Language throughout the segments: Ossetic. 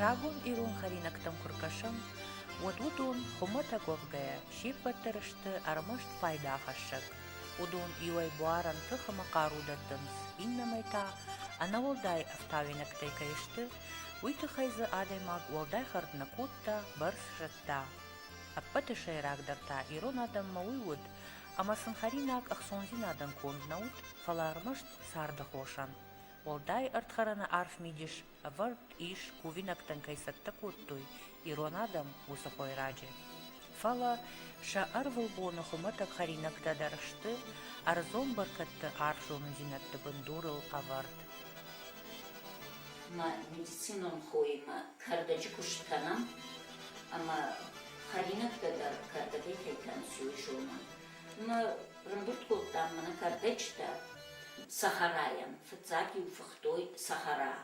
Рагон ирон хӕринӕгтӕм куы ркӕсӕм, уӕд уыдон, хуымӕтӕг уӕвгӕйӕ, се ппӕт дӕр сты ӕрмӕст пайдахӕссӕг. Уыдон иуӕй буарӕн тых ӕмӕ хъару дӕттынц, иннӕмӕй та, ӕнӕуӕлдай ӕфтауинӕгтӕй кӕй сты, уый тыххӕй дзы адӕймаг уӕлдай хӕрд нӕ кодта, бӕрц зыдта. Ӕппӕты сӕйрагдӕр та ирон адӕммӕ уый уыд, ӕмӕ сын хӕринаг ӕхцондзинадӕн конд нӕ уыд, фӕлӕ ӕрмӕст царды хосӕн. Уӕлдай ӕрдхӕрӕны арф мидис ӕвӕрд ис, кувинӕгтӕн кӕй цӕттӕ кодтой ирон адӕм, уыцы хойраджы. Фӕлӕ сӕ ӕрвылбоны хуымӕтӕг хӕринӕгтӕ дӕр сты ӕрдзон бӕркӕдты арф зонындзинӕдты бындурыл ӕвӕрд. Ма медицинон хоимӕ кӕрдӕджы куыст кӕнӕм, ӕмӕ хӕринӕгтӕ дӕр кӕрдӕгӕй кӕй кӕныс, уый зонын. Мӕ рымбырд кодтам мӕнӕ кӕрдӕджытӕ сахарайӕн. Фыццаг-иу фыхтой сахара,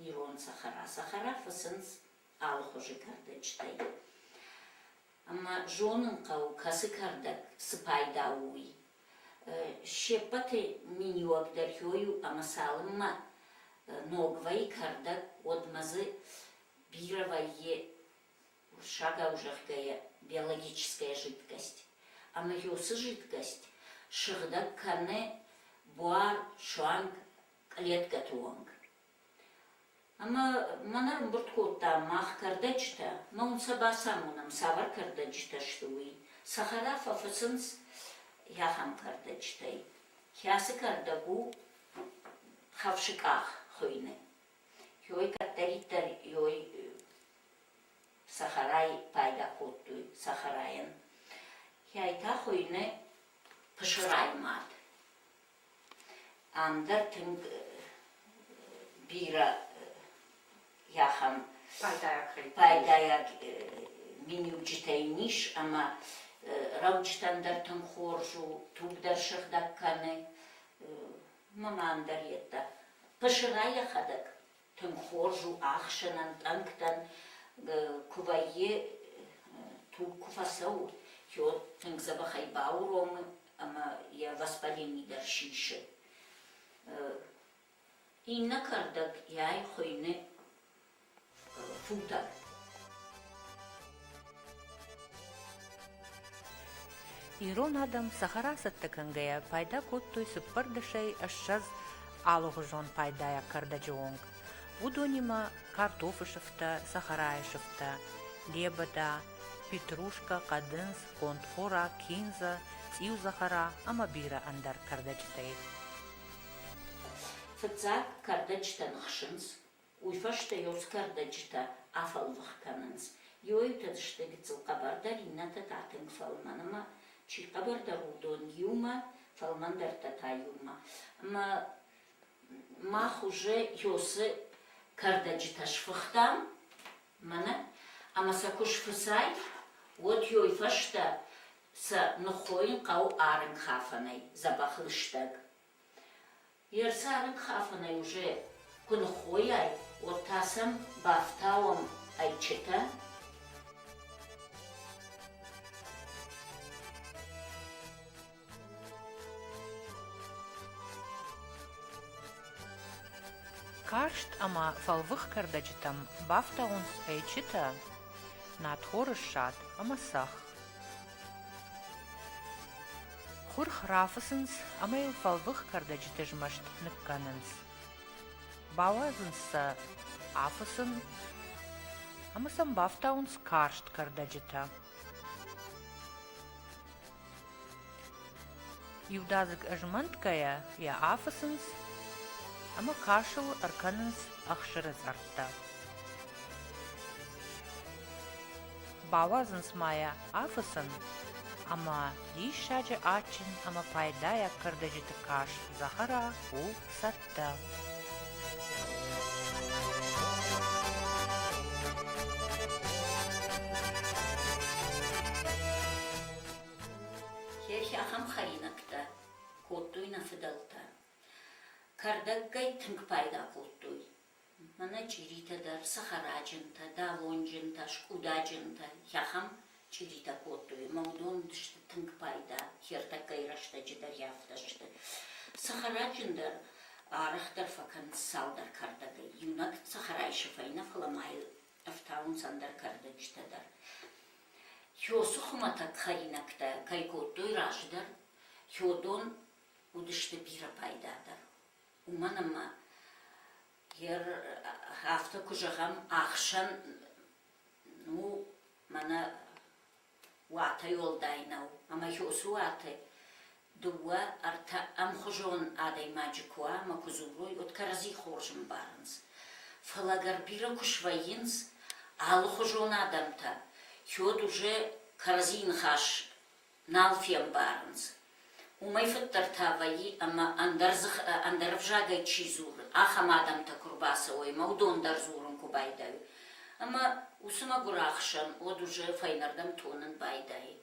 ирон сахара. Сахара фыцынц алыхуызы кӕрдӕджытӕй. Ӕмӕ зонын хъӕуы, кӕцы кӕрдӕг цы пайда у, уый. Се ппӕты миниуӕгдӕр хёй у ӕмӕ цалынмӕ ног вӕййы кӕрдӕг, уӕдмӕ дзы Бира валье, шагау зӕгъгӕйӕ, биологическая жидкость, ӕмӕ йосы жидкость сыгъдӕг кӕны буар, суанг клеткӕты онг. Ӕмӕ мӕн ӕрымбырд кодта мах кӕрдӕджытӕ, мы уын сӕ бацамонӕм, цавӕр кӕрдӕджытӕ сты, уый. Цӕхӕра фӕфыцынц ахӕм кӕрдӕджытӕй, кӕцы кӕрдӕг у хӕфсыкъах хуыйны. Хёй кӕддӕриддӕр Ёй сахарай пайда кодтой сахарайӕн. Хӕйтӕ хуйны пысырай мад. Ам дӕр тынг бирӕ ахӕм пайдайаг миниуджытӕ ис ӕмӕ рӕуджытӕн дӕр тынг хорз у, туг дӕр сыгъдӕг кӕны. Маман дӕр йеддӕ пысырӕй йӕхӕдӕг тынг хорз у, ӕхсӕнӕн, тъӕнгтӕн куы вӕййы туг куы фӕцӕуы, йо тынг дзӕбӕхӕй бауромы ӕмӕ йӕ воспаление дӕр сисы. Иннӕ кӕрдӕг йӕй хуыйны футӕ. Ирон адӕм цӕхӕра цӕттӕ кӕнгӕйӕ пайда кодтой цыппар дӕсӕй ӕссӕдз алыгъуызон пайдайаг кӕрдӕджы онг. Уыдонимӕ картофы сыфтӕ, цӕхӕрайы сыфтӕ, лебӕдӕ, петрушкӕ, хъӕдындз, кондхора, киндза, цъиу-захара ӕмӕ бирӕ ӕндӕр кӕрдӕджытӕй. Фыццаг кӕрдӕджытӕн хсынц Уый фӕстӕ йорс кӕрдӕджытӕ афӕлвых кӕнынц. Иоитӕд сты гыццыл хъӕбӕрдӕр, иннӕтӕ та тынг фӕлмӕн ӕмӕ, чи хъӕбӕрдӕр, уыдон иумӕ, фӕлмӕндӕртӕ та иумӕ. Ӕмӕ мах уже йорсы кӕрдӕджытӕ сфыхтам, мӕнӕ, ӕмӕ сӕ куы сфыцай, уӕд йой фӕстӕ сӕ ныххойын хъӕуы арынгхафӕнӕй, дзӕбӕх лыстӕг. Йе рцарынкхафӕнӕй уже куы ныххойай, уӕд та сӕм бафтауӕм ӕйчытӕ. Карст ӕмӕ фӕлвых кӕрдӕджытӕм бафтауынц ӕйчытӕ, надхоры ссад ӕмӕ цӕхх. Хурх рафыцынц ӕмӕ йыл фӕлвых кӕрдӕджыты змӕст ныккӕнынц. Бауадзынц сӕ афысын ӕмӕ сӕм бафтауынц карст кӕрдӕджытӕ. Иудадзыг ызмӕнтгӕйӕ йӕ афыцынц ӕмӕ касыл ӕркӕнынц ӕхсыры цъӕрттӕ. Бауадзынц ма йӕ афыцын, ӕмӕ диссаджы адджын ӕмӕ пайдайаг кӕрдӕджыты каст Захара у цӕттӕ. Хехи ахӕм хӕринӕгтӕ кодтой нӕ фыдӕлтӕ. Кӕрдӕггӕй тынг пайда кодтой. Мӕнӕ чъиритӕ дӕр, цӕхӕраджынтӕ, далонджынтӕ, скъудаджынтӕ, ахӕм чъиритӕ кодтой ӕмӕ уыдон сты тынг пайда, хиртӕккӕйы рӕстӕджы дӕр йӕ афтӕ сты. Цӕхӕраджын дӕр арӕхдӕр фӕкӕнынц цалдӕр кӕрдӕгӕй. Иунӕг цӕхӕрайы сыфӕй нӕ, фӕлӕ ма йыл ӕртауынц ӕндӕр кӕрдӕджытӕ дӕр. Хёсы хуымӕтӕг хӕринӕгтӕ кӕй кодтой раздӕр, хёдон уыдысты бирӕ пайдадӕр. уымӕн ӕмӕ афтӕ куы зӕгъӕм, ӕхсӕн ну мӕнӕ уатӕй уӕлдай нӕу, ӕмӕ уыцы уаты дыууӕ, ӕртӕ ӕмхуызон адӕймаджы куы уа ӕмӕ куы дзурой, уӕд кӕрӕдзи хорз ӕмбарынц. Фӕлӕ ӕгӕр бирӕ куы свӕййынц алыхуызон адӕмтӕ, уӕд уже кӕрӕдзийы ныхас нал фембарынц. Уымӕй фыддӕр та вӕййы, ӕмӕ ӕндӕр дзыхы, ӕндӕр ӕвзагӕй чи дзуры, ахӕм адӕмтӕ куы рбацӕуой ӕмӕ уыдон дӕр дзурын куы байдайой. Ӕмӕ уыцы мӕгуыр ӕхсӕн Одужы фӕйнӕрдӕм тонын байдайы.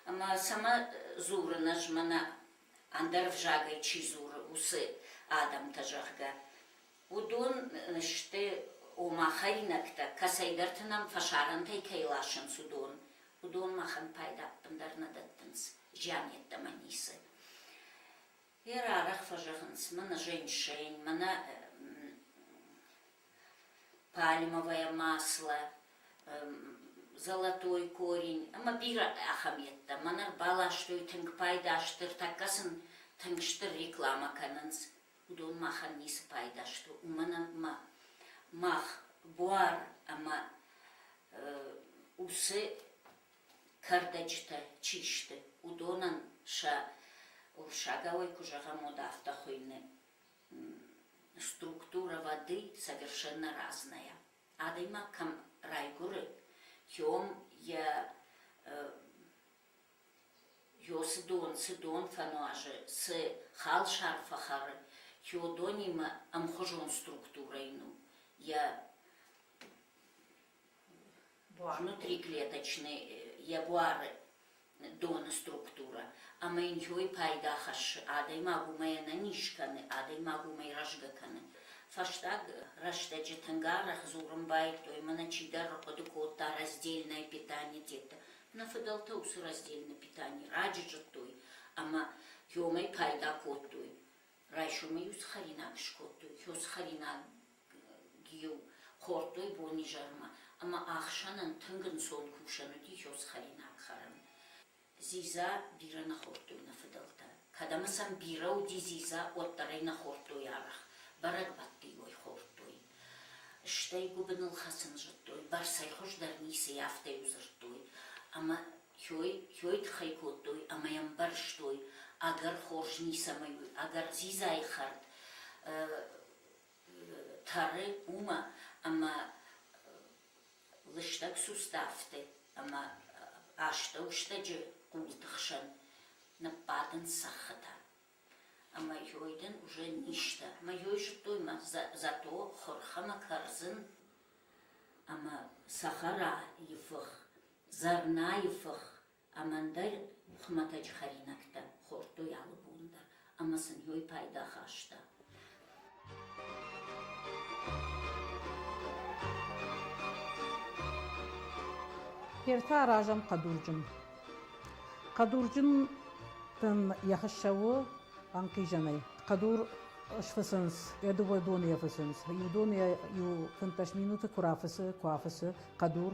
Ӕмӕ цӕмӕ дзурын ӕз, мӕнӕ ӕндӕр ӕвзагӕй чи дзуры, уыцы адӕмтӕ, зӕгъгӕ. Уыдон сты, ома, хӕринӕгтӕ, кӕцӕйдӕрты нӕм фӕсарӕнтӕй кӕй ласынц, уыдон. Уыдон махӕн пайда ӕппындӕр нӕ дӕттынц, зиан йеддӕмӕ ницы. Йӕ рарӕх фӕзӕгъынц, мӕнӕ женьшень, мӕнӕ пальмовое масло, золотой корень ӕмӕ бирӕ ахӕм йедтӕ. Мӕнӕ рбаластой тынг пайда, стыр тӕккӕ сын тынг стыр реклама кӕнынц. уыдон махӕн ницы пайда сты, уымӕн ӕмӕ мах буар ӕмӕ уыцы кӕрдӕджытӕ чи сты, уыдонӕн сӕ сагауӕй куы зӕгъӕм, уӕд афтӕ хуыйны структура воды совершенно разная. Адӕймаг кӕм райгуыры, кӕм йӕ Йо Сыдон, Сыдон фӕнуазы, цы халсар фӕхӕры, Кеодонимӕ ӕмхуызон структурӕ ын у, йӕ внутриклеточный, йӕ буары доны структурӕ, ӕмӕ йын йой пайда хӕссы, адӕймаг уымӕй ӕнӕниз кӕны, адӕймаг уымӕй рӕзгӕ кӕны. Фӕстаг рӕстӕджы тынг арӕх дзурын байдыдтой, мӕнӕ чидӕр хъуыды кодта раздельное питание детдӕ. Нӕ фыдӕлтӕ уыцы раздельны питани раджы зыдтой ӕмӕ йомӕй пайда кодтой. Райсомӕй-иу цы хӕринаг скодтой, хё цы хӕринаг-иу хордтой бонизӕрмӕ, ӕмӕ ӕхсӕнӕн тынг ӕнцон кусӕн уыди хё цы хӕринаг хӕрын. Дзидза бирӕ нӕ хордтой нӕ фыдӕлтӕ. Кӕдӕмы сӕм бирӕ уыди дзидза, уӕддӕр ӕй нӕ хордтой арӕх, бӕрӕгбӕтты-иу ӕй хордтой. Стӕй гуыбыныл хӕцын зыдтой, Барсӕй хуыздӕр ницыйы афтӕ-иу дзырдтой, ӕмӕ Хёй, Хёй тыхӕй кодтой ӕмӕ йӕ ӕмбӕрзтой, ӕгӕр хорз ницӕмӕй у, ӕгӕр дзидзайы хӕрд тӕры уымӕ, ӕмӕ лыстӕг суставты ӕмӕ астӕу стӕджы хъулты хсӕн ныббадынц цӕххытӕ. Ӕмӕ йой дын уже низтӕ. Ӕмӕ йой зыдтой мӕ зато хурхӕмӕ кӕрдзын ӕмӕ цӕхӕрайы фых, зӕрнайы фых ӕмӕ ӕндӕр хуымӕтӕджы хӕринӕгтӕ хордтой алы бон дӕр. Ӕмӕ сын йой пайда хаста. Ертӕ аразӕм хъӕдурджын. Хъӕдурджын дын йӕ хыссӕ у ӕнхъизӕнӕй. Хъӕдур сфысынц, я дыууӕ доны фысынц. Иу доны иу фынддӕс минуты куы рафысы, куы афысы хъӕдур.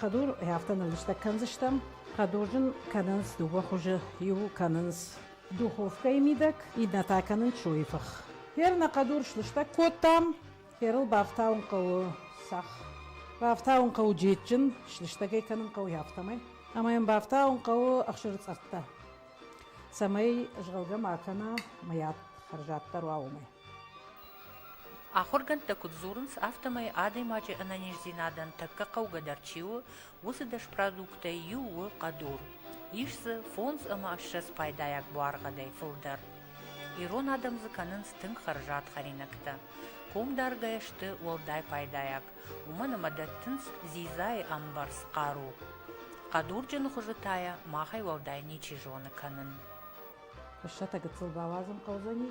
Хъӕдур афтӕ ныллыстӕг кӕндзыстӕм. Хъӕдурджын кӕнынц дыууӕ хуызы. Иу кӕнынц духовкӕйы мидӕг, иннӕ та кӕнынц суйы фых. Хер нӕ хъӕдур слыстӕг кодтам. Херыл бафтауын хъӕуы сах. Бафтауын хъӕуы джеджджын, слыстӕгӕй кӕнын хъӕуы афтӕмӕй. Ӕмӕ йын бафтауын хъӕуы ӕхсырцъӕрттӕ, цӕмӕй згъалгӕ ма кӕна мыят хӕрзаддӕр уа уымӕй. Ахуыргӕндтӕ куыд дзурынц, афтӕмӕй адӕймаджы ӕнӕниздзинадӕн тӕккӕ хъӕугӕдӕр чи у, уыцы дӕс продуктӕй иу у хъӕдур. Ис дзы фондз ӕмӕ ссӕдз пайдайаг буаргъӕдӕй фылдӕр. Ирон адӕм дзы кӕнынц тынг хӕрзад хӕринӕгтӕ. Комдаргӕ сты уӕлдай пайдайаг, уымӕн ӕмӕ дӕттынц дзидзайы ӕмбӕрц хъару. Хъӕдурджыны хуызы та йӕ махӕй уӕлдай ничи зоны кӕнын. Фыссӕтӕ гыццыл бауадзын хъӕудзӕни?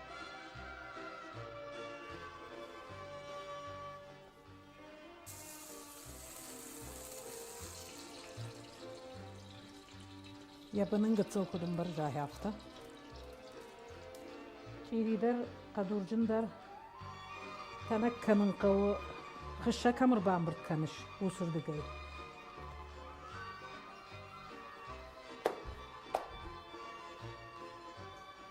Йӕ бынын гыццыл куыд ӕмбӕрза, афтӕ. Чъиридӕр, хъӕдурджындӕр, тӕнӕг кӕнын хъӕуы, хыссӕ кӕм ӕрбамбырд кӕныс, усырдыгӕй.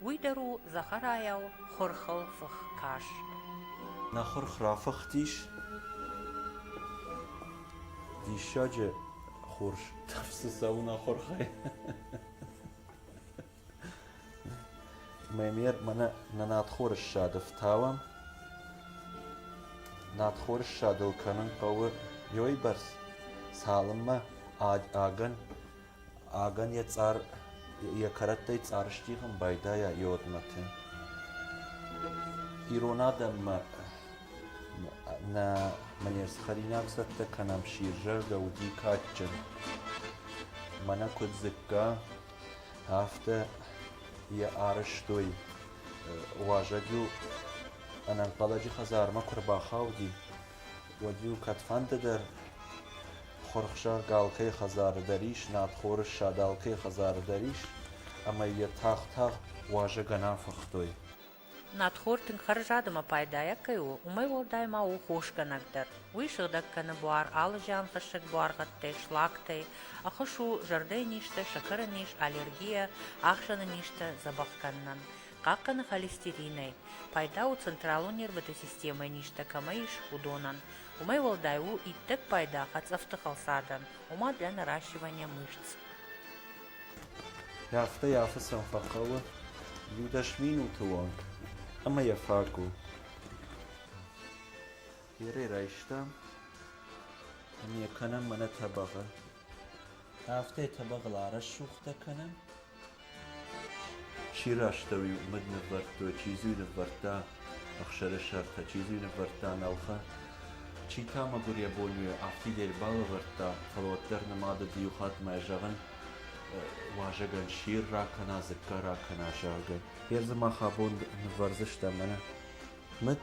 Уый дӕр у Захарайау хурхыл фых карз. Нӕ хурх рафыхтис. Диссаджы хурс тӕфсы цӕуына хурхӕй. Мемер мӕнӕ нӕ надхоры ссады фтауӕм. Надхоры ссадыл кӕнын хъӕуы ёйбӕрц, цалынмӕ агӕн Ӕгӕн йӕ цъар, йӕ кӕрӕттӕй цъар стигъын байдайа иодмӕты. Ирон адӕммӕ нӕ мӕнӕ хӕринаг цӕттӕ кӕнӕм сирзӕрдӕ уыди кадджын. Мӕнӕ куыд дзыкка, афтӕ йӕ арӕзтой. Уазӕг-иу ӕнӕнхъӕлӕджы хӕдзармӕ куы рбахауди, уӕд-иу кӕдфӕнды дӕр Хурхсӕр Галхъе хӕдзары дӕр ис, Надхоры ссадӕлхъе хӕдзары дӕр ис, ӕмӕ йӕ тагъд-тагъд уазӕгӕн афыхтой. Надхор тынг хӕрзад ӕмӕ пайдайаг кӕй у, уымӕй уӕлдай ма у хосгӕнӕг дӕр. Уый сыгъдӕг кӕны буар алы зианхӕссӕг буаргъӕдтӕй, слактӕй, ӕххуыс у зӕрдӕйы низтӕ, сӕкӕры низ, аллергийӕ, ахсӕны низтӕ дзӕбӕх кӕнынӕн. хъахъхъӕны холестеринӕй, пайда у централон нервыты системӕйы низтӕ кӕмӕ ис, уыдонӕн. Уымӕй уӕлдай у иттӕг пайда хӕцъӕфты хӕлцадӕн, ома для наращивания мышц. Афтӕ йӕ афы сӕм фӕхъӕуы иу дӕс минуты онг, ӕмӕ йӕ фаг у. Бирӕ райста ӕмӕ кӕнӕм мӕнӕ тӕбӕгъы. Афтӕ тӕбӕгъыл арӕссугтӕ кӕнӕм, Чи растӕуи, уымыд ныввӕрдтой, чи дзы ныввӕрдта ӕхсӕры сӕртӕ, чи дзы ныввӕрдта нӕлхӕ. Чи та, мӕгуыр йӕ бонюй, афтид ӕрбалӕвӕрдта, фӕлӕ уӕддӕр нымад уыд иу хатт мӕ зӕгъын, уазӕгӕн сир ракӕна, дзыкка ракӕна, зӕгъгӕ. Гъе дзы мах абон нывӕрдзыстӕм, ӕнӕ. Мыд?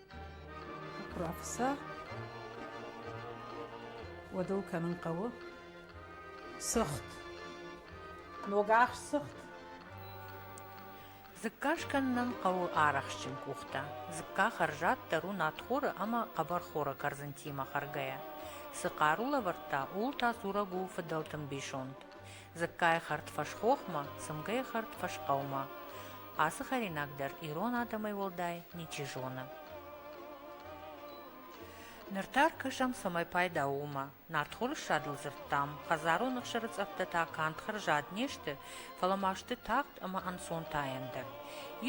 Профессор, уӕдыл кӕнын хъӕуы сыгъд, ногахст сыгъд. Дзыкка скӕнынӕн хъӕуы арӕхстджын къухтӕ. Дзыкка хӕрзаддӕр у надхоры ӕмӕ хъӕбӕрхоры кӕрдзынтимӕ хӕргӕйӕ. Цы хъару лӕвӕрдта, ууыл та дзурӕг у фыдӕлты мбисонд. Дзыккайы хӕрд фӕсхохмӕ, цымгӕйы хӕрд фӕсхъӕумӕ. Ацы хӕринаг дӕр ирон адӕмӕй уӕлдай ничи зоны. Ныр та ӕркӕсӕм, цӕмӕй пайда у уымӕ. Нартхорссадыл дзырдтам, хӕдзарон ӕхсыры цъӕрттӕ та канд хӕрзад не сты, фӕлӕ ма сты тагъд ӕмӕ ӕнцонтаен дӕр.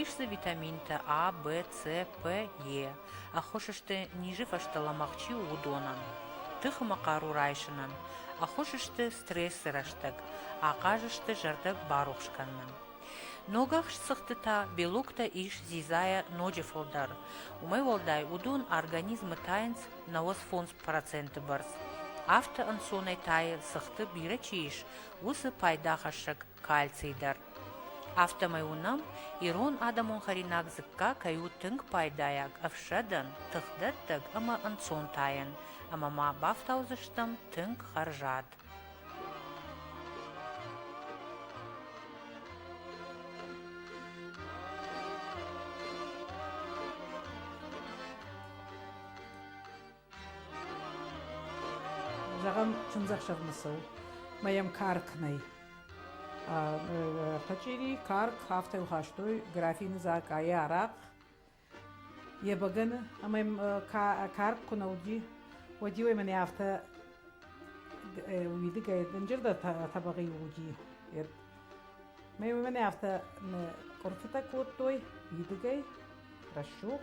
Ис дзы витаминтӕ А, Б, С, П, Е. ӕххуыс сты, низы фӕстӕ лӕмӕгъ чи у, уыдонӕн. Тыхымӕ хъару райсынӕн ӕххуыс сты стрессы рӕстӕг, ахъаз сты зӕрдӕ барухс кӕнынӕн. Ногахст цыхтытӕ, белоктӕ ис дзидзайӕ ноджы фылдӕр, уымӕй уӕлдай уыдон организмы тайынц нӕуӕдз фондз проценты бӕрц, афтӕ ӕнцонӕй тайы, цыхты бирӕ чи ис, уыцы пайдахӕссӕг кальций дӕр. Афтӕмӕй уынӕм, ирон адӕмон хӕринаг дзыкка кӕй у тынг пайдайаг ӕфсӕдӕн, тыхдӕттӕг ӕмӕ ӕнцон тайӕн, ӕмӕ ма бафтаудзыстӕм тынг хӕрзад. Зӕгъӕм, чындзӕхсӕвмӕ цӕуы мӕ йӕм карк нӕй. Пачъири, карк, афтӕ йыл хастой графины дзӕкъайы арахъ йӕ бӕгӕны, ӕмӕ йӕм карк куы нӕ уыди, уӕд-иу ӕй мӕнӕ афтӕ уидыгӕй дынджырдӕр тӕбӕгъи уыди. Мӕ мӕнӕ афтӕ къуырфытӕ кодтой уидыгӕй, рӕсугъд.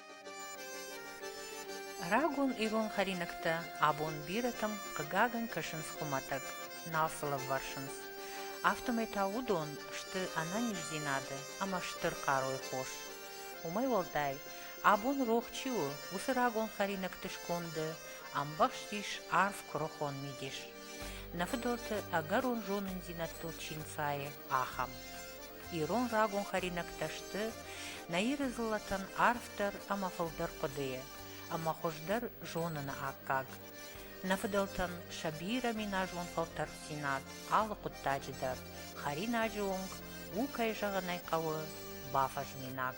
Рагон ирон хӕринӕгтӕ абон бирӕтӕм, хъыгагӕн, кӕсынц хуымӕтӕг, нал сыл ӕввӕрсынц. Афтӕмӕй та уыдон сты ӕнӕниздзинады ӕмӕ стыр хъарой хос. Уымӕй уӕлдай, абон рох чи у, уыцы рагон хӕринӕгты сконды ӕмбӕхст ис арф куырыхон мидис. Нӕ фыдӕлты ӕгӕрон зонындзинӕдтыл чи нцайы, ахӕм. ирон рагон хӕринӕгтӕ сты нӕ Иры дзыллӕтӕн арфдӕр ӕмӕ фылдӕр хъуыдыйы ӕмӕ хуыздӕр зоныны аккаг. Нӕ фыдӕлтӕн сӕ бирӕ миназон фӕлтӕрддзинад алы хъуыддаджы дӕр, хӕринаджы онг у, кӕй зӕгъын ӕй хъӕуы, бафӕзминаг.